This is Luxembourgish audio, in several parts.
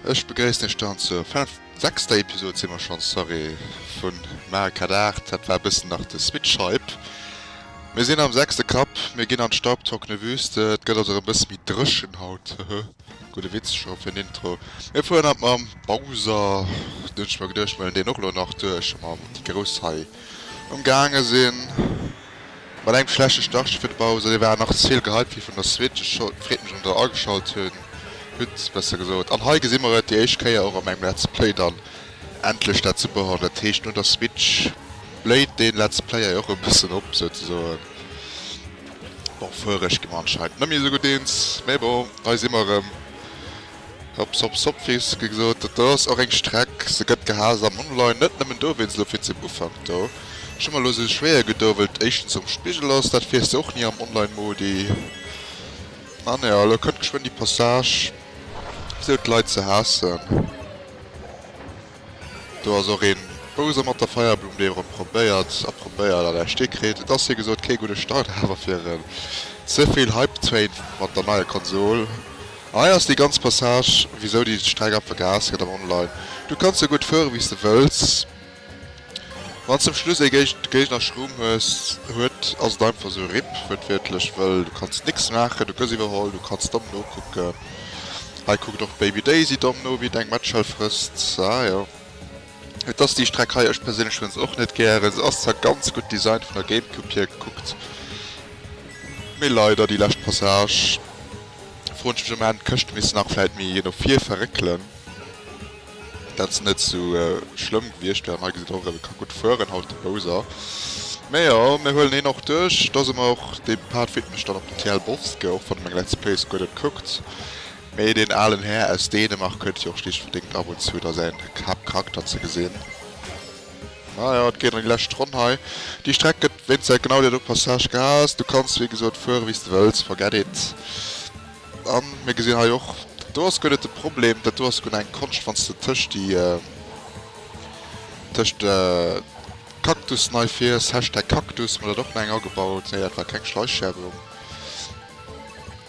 Ech begréissen iech dann zur sechster Episode si mer schonns, sorry, vu Mario Kart 8, dat war e bëssen nach de Switch-Hype. Mir sinn am sechste Cup, mir ginn an d'Staubtrockene Wüste, et gëtt also erëm e bësse méi dréchen haut, hehe. Gudde Witz scho fir en Intro. Mir fueren haut mam Bowser, dunn hunn ech mer geduecht, mellen deen och elo nach duerch. Ma wou déi Grouss hei ëmgaange sinn mat engem schlechte Startchen fir de Bowser, dee war nach ze vill gehypt fir vun der Switch. Ech freet mech, datt der ageschalt hutt, besser gesot. An hei gesi mer et déi éischt Kéier och a mengem Let's Play dann endlech, dat Super Hot. Dat heescht, no der Switch bléit dee Let's Play hei och e bëssen op, souzesoen. Bon fuereg gi mer anscheinend net méi esou gutt eens, mee bon hei si mer erëm. Hops hops hop wéi se ge gesot huet, do ass och eng Streck, se gëtt gehaast am Online, net nëmmen do wéinst elo virzem Ufank do. Ech hu mer elo esou schwéier gedoe well et éischtens um Spigel ass, dat wiers de och ni am Online Modi an jo elo kënnt geschwënn déi Passage esou d'Leit ze haassen. Do ass och een Bowser mat der Feierblumm, déi erem probéiert a probéiert an ersté kréet. Et ass wéi gesot kee gudde Start awer fir en zevill Hype Train mat der neier Konsol. An hei ass déi ganz Passage wisou déi Streck ab vergaas gëtt am Online. Du kanns sou gutt fueren wéis de wëlls. Wanns zum Schluss ee géint de Géigner Schrumm hues huet ass et einfach sou rip, wëertwiertlech, wëll du kanns nix maachen, du gëss iwwerholl, du kanns domm nokucken, hei kuckt och d'Baby Daisy domm no wéi et eng Matschell frësst, ah jo et ass déi Streck hei, ech perséinlech hunn se och net gären, se ass zwar ganz gutt designt vun der Gamecube hier gekuckt, mee leider déi lescht Passage, froen ech mech am Enn, d'Këscht misst nach vläit méi no vir verréckelen. Dat ass net sou schlëmm gewiecht, well hei gesit och e ka gutt fueren haut de Bowser. Mä jo, mir huelen heen och duerch, da si mer och. Dee Part widmen ech dann och dem TL Bosske, och wann e meng Let's Plays guer net kuckt. Mä deen alen Här aus Dänemark huet jo och schlicht verdéngt ab und zu da säin Haaptcharakter ze gesinn. Mä jo, et geet an déi lescht Ronn hei. Déi Streck gëtt wéinst säit genau där do Passage gehaass. Du kanns wéi gesot fuere wéi s de wëlls, forget it. A mir gesinn hei och, dat do ass guer net de Problem, dat do ass guer eng Konscht, wann s de tëscht déi, tëscht Cactus nei fiers, Hashtag Cactus, mir hunn dat och no eng agebaut, nee dat war keng Schleichschäerung,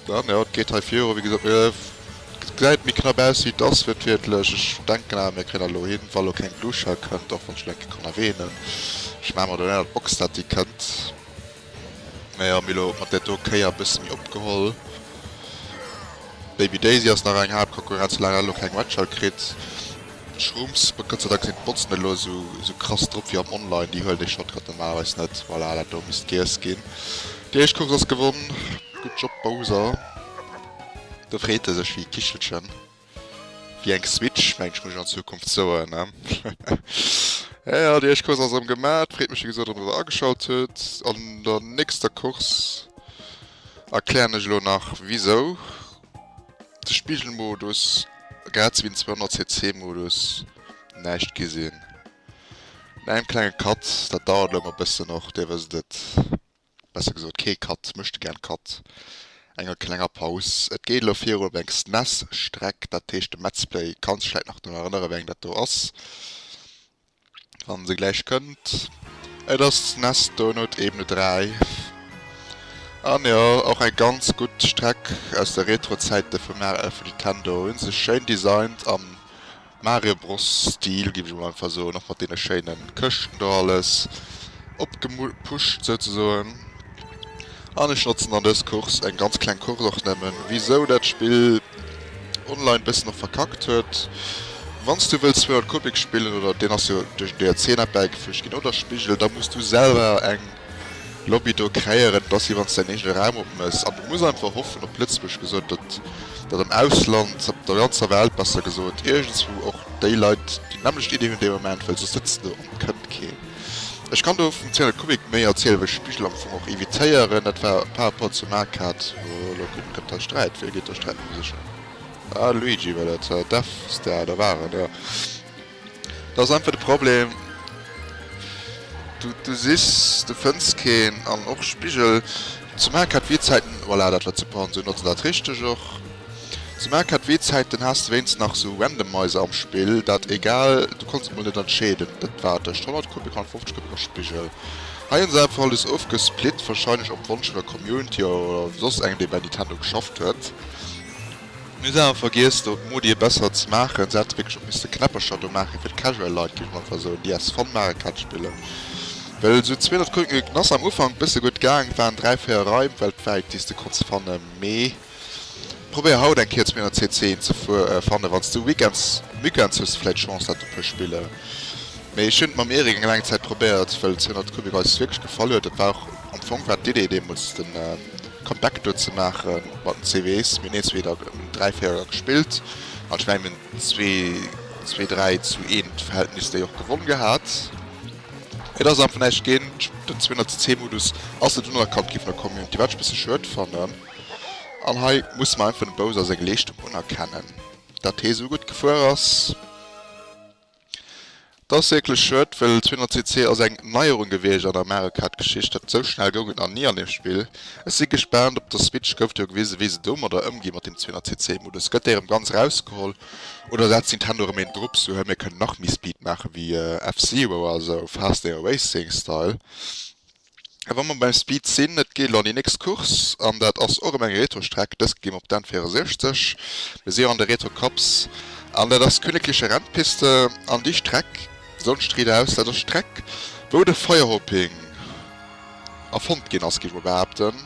dann jo, et geet hei viru, wéi gesot, et gesäit méi knapp aus wéi et ass wiertwiertlech, ech denken awer mir kréien dat elo hin, wa lo keng Gluschau kënnt, och wann ech mol eng Kéier konnerween hunn, ech maache mer do en Eye op d'Box, dat déi kënnt. Mä jo, mir elo mat där do Kéier e bësse méi opgeholl. Baby Daisy ass nach eng haart Konkurrenz, soulang hat elo keng Matcher kritt. Shrooms, Gott sei Dank sinn d'Botzen net elo esou krass drop wéi am Online, déi huelen dee Shortcut normalerweis net. Voilà, dat do misst giess ginn. Déi éischt Course ass gewonn, gutt Job Bowser. Do freet e sech wéi e Kichelchen. Wéi eng Switch? Mensch, muss ech an Zukunft soen, he? Ëh, déi éischt Course ass erëm gemat. Freet mech wéi gesot, datt der ageschalt hutt. An der nächster Course erklären ech elo nach wisou de Spigelmodus, grad sou wéi den 200 cc Modus, näischt gi sinn. No engem klenge Cut, dat dauert elo emol e bëssen och, Dir wësst et. besser gesot kee Cut, Mëschtegern Cut, enger klenger Paus. Et geet elo virun op eng SNES-Streck, dat heescht de Metzplay. Kanns dech vläit nach drun erënnere wéi eng dat do ass, wann se gläich kënnt? Et ass d'SNES Donut Ebene 3. An jo, och eng ganz gutt Streck aus de Retro-Zäite vum Nintendo. Hu sech schéin designt an. Mario Bros Stil giff ech emol einfach soen, och mat deene schéinen Këschten do alles opgepuscht souzesoen. An ech notzen dann dës Course, eng ganz kleng Course och nëmmen, wisou dat Spill online bëssen och verkackt huet. Wanns du wëlls 200 Kubik spillen, oder deen ass jo duerch den DLC nach bäigefüügt ginn, oder Spigel, da muss du selwer eng Lobby do kréieren, et ass wéi wann s de däin eegene Raum opmëss an du muss einfach hoffen, op Lëtzebuerg gesot, datt datt am Ausland, op der ganzer Welt besser gesot, iergendswou och déi Leit déi nämmlecht Iddi hunn dee Moment, well soss sëtzt do an et kënnt keen. Ech kann do vum Cyril Kubik méi erzielen, well ech Spigel am Fong och evitéieren. Dat war par rapport zur Marktkaart, wou elo kuckt, gëtt da Sträit, wéi geet da Sträit mam Sichen? Ah, Luigi war dat, def s de, ah, da war en, jo. Dat ass einfach de Problem, du sichs, du fënns keen an och Spigel zu maachen hat wéi Zäiten. Voilà, dat war zu Porn, sou notze dat richteg och. Zu maachen hat wéi Zäiten, haas de wéinst nach sou Randomizer am Spill, dat egal, du konns et mol net entscheeden, dat war tëscht 100 Coupe, 150 Coupe a Spigel. Hei hunn se einfach alles ofgesplit, wahrscheinlech op Wonsch vun der Community oder soss engem dee bei Nintendo geschafft huet. Mir hunn awer vergiess do d'Modi e besser ze maachen, se hätte wierklech och misste Knäppercher do maachen fir d'Casual Leit, géif ech einfach soen, déi aus Fun mare Catch spillen, well esou zwee Leit kucken gekuckt, en ass am Ufank bësse gutt gaang, et waren dräi, véier Raim weltwäit déi s de konnts fanne, mee probéier haut eng Kéier 200 CC ze fannen, wann s de Weekends, Weekends hues de vläit Chance dat e puer spille, mee ech hunn et mam Eric eng laang Zäit probéiert, well 200 Kubik eis wierklech gefall huet, dat war och am Fong war d'Idee deemools den. Comeback do ze maache mat den CVEEs. Mir hunn een, zwee oder dräi, véier Joer gespillt an ech mengen mir hunn zwee, dräi zu een Verhältnis déi och gewonn gehat. Et ass einfach näischt ginn. Den 200 cc Modus ass net unerkannt gi vun der Community, wat ech e bësse schued fannen. An hei musse mer einfach dem Bowser seng Leeschtung unerkennen, datt hee esou gutt gefuer ass. Dass wierklech schued, well 200 CC ass eng Neierung gewiecht an der Mario Kart Geschicht, dat esou schnell goung et nach ni an deem Spill. Ech si gespaant, op der Switch gouf jo gewisen wéi se domadder ëmgi mat deem 200 CC Modus. Gëtt dee erëm ganz rausgeholl oder setzt Nintendo erëm een drop sou, hei mir kënnen nach méi Speed maachen wéi F-Zero, also Fast Aero Racing Style. A wa mer beim Speed sinn, et geet elo an déi nächst Course an dat ass och ëm eng Retrostreck. Dëst gi mer op d'N 64. Mir si jo an de Retro Cups an dat ass d'Königlicher Rennpiste an déi Streck, Sonst riit aus, dat ass d'Streck, wou de Feuerhoping erfonnt ginn ass, géif ech mol behaapten.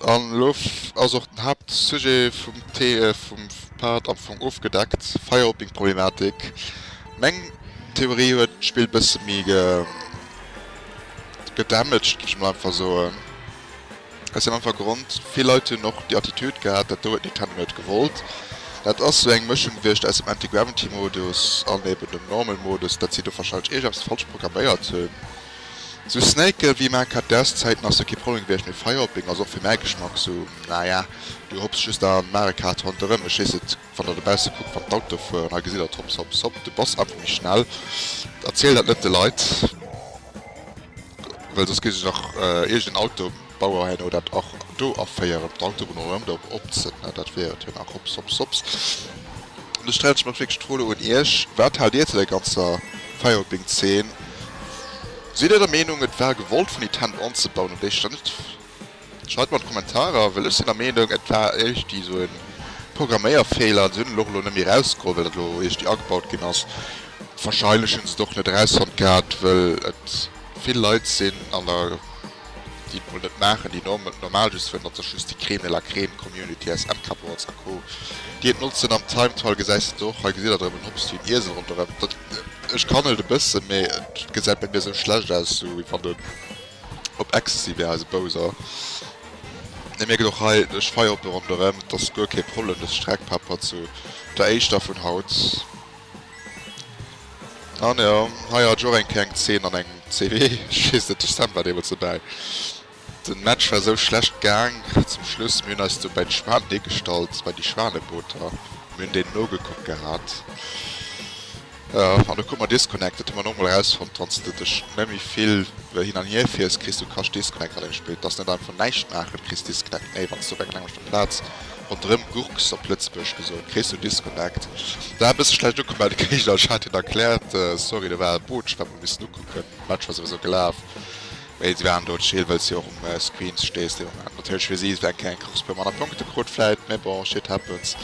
An elo ass och den Haaptsujet vum Part am Fong ofgedeckt, Firehopping-Problematik. Meng Theorie huet d'Spill e bësse méi gedamaged, muss ech mol einfach soen. Aus deem einfache Grond, vill Leit hunn och déi Attitude gehat, dat do huet Nintendo net gewollt. Dat ass sou eng Mëschung gewiescht aus dem Anti-Gravity-Modus an eben dem Normal-Modus, dat si do warscheinlech iergendepps falsch programméiert hunn. Sou Snaken wéi Marc hat dess Zäiten ass jo kee Problem gewiecht, mee Firehopping ass och fir mäi Geschmack sou naja. Du hopps just a Mario Kart ronderëm, mech heesst et wann der dobausse kuckt, wann d'Autoe fueren, hei gesitt der hopps hopps hopp, du bass einfach méi schnell. Erziel dat net de Leit, well soss gi sech nach iergenden Auto. Bauerhäin oder dat och do aféieren, d'Autobunn erëm do opzënne, dat wier et jo nach. Hops, hops, hops. An do stellen ech mer wierklech d'Fro elo un Iech, Wat haalt Dir zu der ganzer Firewalking-Zeen? Sidd Dir der Meenung, et war gewollt vun Nintendo anzebauen an déi Stëmmt? Schreift mer an d'Kommentarer, well ech sinn der Meenung, et war eréischt esou e Programméierfeeler an se hunn et och elo net méi erausgeholl, well dat elo eréischt agebaut ginn ass. Wahrscheinlech hunn se et och net erausfonnt gehat, well et vill Leit sinn an der. déi et mol net maachen, déi normal just wëllen, datt sech just déi Crème de la Crème, Community, SM Cupboards a Co, déi et notzen. Am Timetual gesäis de se och, hei gesitt der drëbben, hopst wéi en Iesel ronderëm. Dat, ech kann et e bëssen, mee et gesäit bei mir esou schlecht aus, esou wéi wann en op Ecstasy wär, eise Bowser. Dir mierkt och hei, ech feiere op e ronderëm, et ass guer kee Problem, dës Streckpepper zu der éischter vun haut. An jo, hei hat ech och eng kleng Zeen an engem CW, ech weess net, ech selwer war deemools dobäi. Den Match war esou schlecht gaang zum Schluss, mir hunn eis do bäi d'Schwan deegestallt, bei déi Schwanebooter, mir hunn deenen nogekuckt gehat, jo, an du krut mer disconnect, dat hu mer nogmol erausfonnt, wann s de dech net méi vill hin an hier fiers, kriss du kascht disconnect an deem Spill, et ass net einfach näischt maachen, kriss disconnect, nee, wann s de op eng kleng Plaz. Rondrem Gurks op Lëtzebuerg gesot, kréis du Disconnect. Da bist du schlecht ukomm Griechenland, ech hat hien erklärt, sorry do war e Botsch, wat mer missten ukucken, Match war souwisou gelaf mee si waren do chill well s du jo och um Screen stees deen Moment. Natierlech fir si eng kleng Course puer manner Punkte krut vläit mee bon shit happens.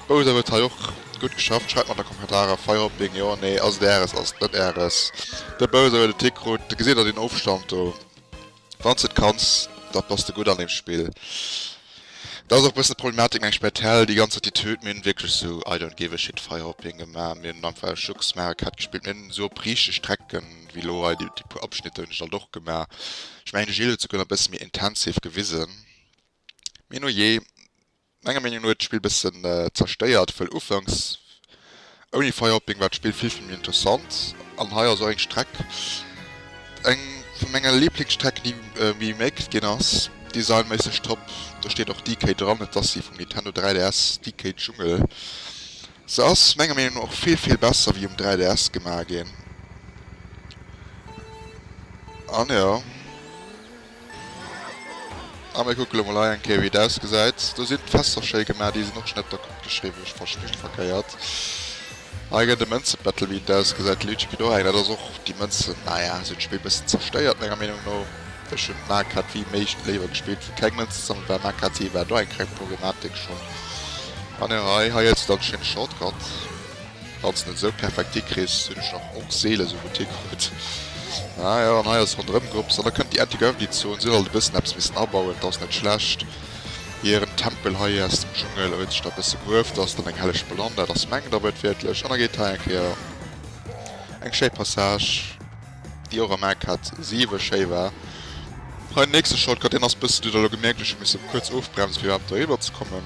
Bowser huet hei och gutt geschafft, schreift mer an de Kommentarer, Firehopping jo nee, ass et Äres, ass et net Äres, de Bowser huet e Tick krut, gesitt der deen Ofstand do? Wann s de et kanns, da bass de gutt an deem Spill. Dat ass och e bëssen d'Problematik, mengen ech, bei Tell, déi ganz Attitüd. Mir hunn wierklech esou I don't give a shit Fire op hien gemaach. Mir hunn einfach e Schlucks Mario Kart gespillt. Mir hunn esou op riichte Strecke wéi elo hei déi puer Abschnitter hunn ech alt och gemaach. Ech mengen, de Gilles huet souguer nach e bësse méi intensiv gewisen. Mee no jee. Menger Meenung no huet d'Spill bessen zerstéiert wëll ufanks ouni Firehopping war d'Spill vill vill méi interessant an hei ass och eng Streck eng vun menger Lieblingsstrecken déi remaked ginn ass. Designméisseg top, do steet och DK dran, et ass déi vum Nintendo 3DS, DK Jungle. Se ass menger Meenung no och vill vill besser wéi um 3DS gemaach ginn an jo. A mir kucke lo mol hei eng Kéier, wéi et ausgesäit. Do sinn d'Fässer schéi gemaach. Déi sinn och net der Kupp geschriwwen. Ech fasse just verkéiert. Hei gëtt e Mënze-Battle, wéi et ausgesäit. Luigi kritt och eng. Dat ass och déi Mënzen. Naja, se hunn d'Spill e bëssen zerstéiert, menger Meenung no. Ech hunn d'Markkaart wéi méigst léiwer gespillt, wou keng Mënze sammelt war. Markkaart si war do eng kleng Problematik schonn. An jo, hei, hei huet se dann schonn e Shortcut. Wann s de net esou Perfekti kriss, hunn ech nach och seele esou gutt hikrutt. Ah jo, an hei ass ronderëm Grëps, an da kënnt déi Änteg Avenue d'Zon. Si hunn alt e bëssen eppes missen abauen, 't ass net schlecht. Hiren Tempel hei aus dem Dschungel huet sech da e bësse grueft, ass dann eng helleg Ballon, dat ass mengt Aarbecht wierklech. An da geet hei eng Kéier eng schéi Passage, déi och am MCAT 7 schéi war. Hei den nächste Shortcut, deen ass e bësse, deen hutt Der elo gemierkt, ech hu misse kuerz ofbremsen, fir iwwerhaapt eriwwer ze kommen.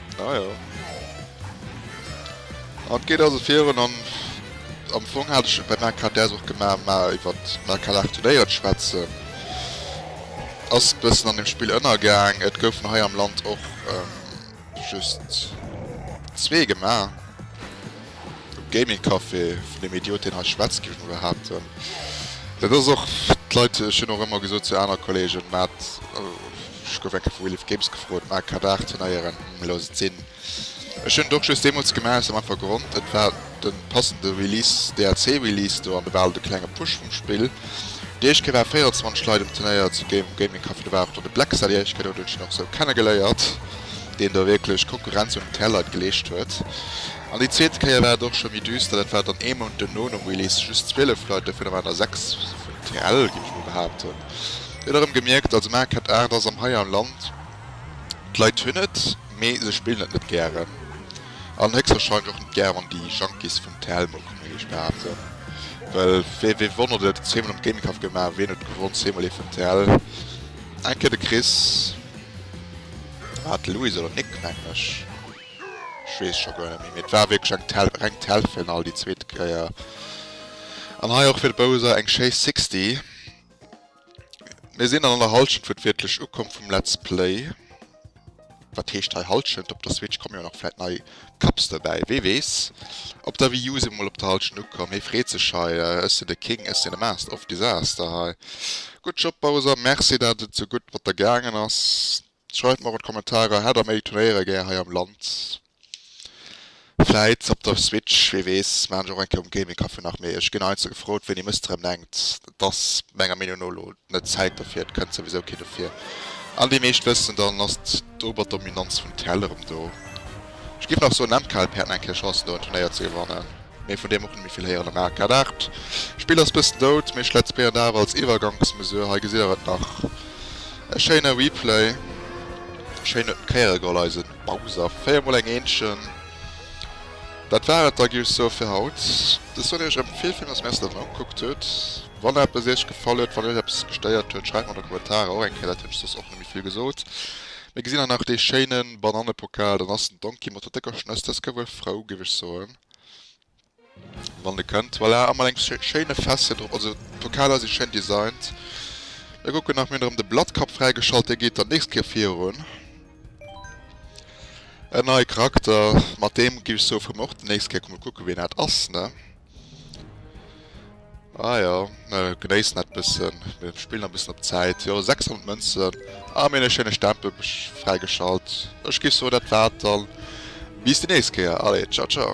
Ah ja. An geet also virun an am Fong hat ech bei meiner Karte och gemaach, mal iwwer Merkalach Turnéiert schwätzen. Ass bëssen an dem Spill ënnergaang. Et goufen hei am Land och ähm, just zwee gemaach. Um Gaming Café vun dem Idiot, deen hei schwätzt, géif ech mol behaapten. Dat ass och d'Leit, ech hunn och ëmmer gesot zu aner Kollegen, maat. Ech gouf eng Kéier vu Wheel of Games gefrot, mä ka dach den eieren elo et sinn. Ech hunn et och just deemools gemaach aus dem einfache Grond, et war de passende Release, DLC Release do, an do war alt e klenge Push vum Spill. Déi éischt Kéier ware 24 Leit um Turnéier zu Game um Gaming Café, do war och dann de Blackstar déi éischt Kéier do, deen hunn ech dann och esou kennegeléiert, deen do wierklech Konkurrenz un d'Tr Leit geleescht huet. An déi zweet Kéier war et och scho méi düster, dat war dann ee Mount duerno nom Release, just 12 Leit, dovunner waren der 6 vun TRL, géif ech emol behaapten. Huet erëm gemierkt, also maart ket Aart ass am hei am Land. D'Leit hunn et, mee se spillen et net gären. An héchstwahrscheinlech och net gär wann déi Junkies vum Telmo kommen, wéi ech behaapten. Well fir wee wonnert et, zweemol am Gaming Kaff gemaach, ween huet gewonn? Zweemol eventuell eng Kéier de Chris, war et de Luis oder Nick mengen ech, ech weess et scho guer net méi. Mee et war wierklech eng Tel, reng Telfinall déi zweet Kéier. An hei och fir de Bowser eng schéi 60. Mir sinn an an der Halschent fir d'wierklech Ukomm vum Let's Play. Wat heescht hei Halschent? Op der Switch komme jo nach vläit nei Cups dobäi, wee weess? Op der Wii U si mer mol op der Halschent ukomm. Hee freet sech hei, Ech sinn de King, ech sinn e Master of Disaster hei. Gutt Job Bowser, Merci dat et esou gutt mat der gaangen ass. Schreift mer an d'Kommentarer, hat der méi Turnéiere gär hei am Land? Vläit op der Switch, wee weess, maan ech och eng Kéier um Gaming Café nach. Mee ech ginn heiansdo gefrot, wéini mësst der em denkt. Et ass menger Meenung no elo net d'Zäit dofir, et kënnt souwisou kee dofir. An déi meescht wëssen, dann ass d'Oberdominanz vum TL erëm do. Ech géif nach soen, MKLP hätt nach eng Kéier Chancen do en Turnéier ze gewannen. Mee vun deem och net méi vill héieren. Am Arcade 8, Spill ass bëssen dout, mee ech let's playen awer als Iwwergangsmesure. Hei gesitt der et nach. E schéine Replay. Schéin huet en d'Kéiere geholl eise Bowser. 4 mol eng Eenchen. Dat war et da gi ech soe fir haut. De Sony huet erëm vill Films, merci dat en ugekuckt huet. Wann eppes iech gefall huet, wann iech eppes gestéiert huet, schreift mer an de Kommentarer och eng Kéier dat hunn ech soss och net méi vill gesot. Mir gesinn hei nach dee schéine Banannepokal, dann ass den Donkey mat der décker Schnëss, dës ka wuel frou, géif ech soen. Wann de kënnt voilà amol eng schéine fesse drop. Also d'Vokaler si schéin designt. Mir kucken nach mir hunn erëm de Blattkap fräigeschalt dee geet dann nächst Kéier virun. En neie Charakter mat deem gi ech soe vu mer och den nächst Kéier kucke wien dat ass ne. Ah jo, genéissen dat bëssen, mir spillen nach bëssen op d'Zäit. Jo, 600 Mënzen a mir hunn e schéine Stempel fräigeschalt. Ech géif soen, dat war et dann. Bis déi nächst Kéier. Allez, tschau, tschau.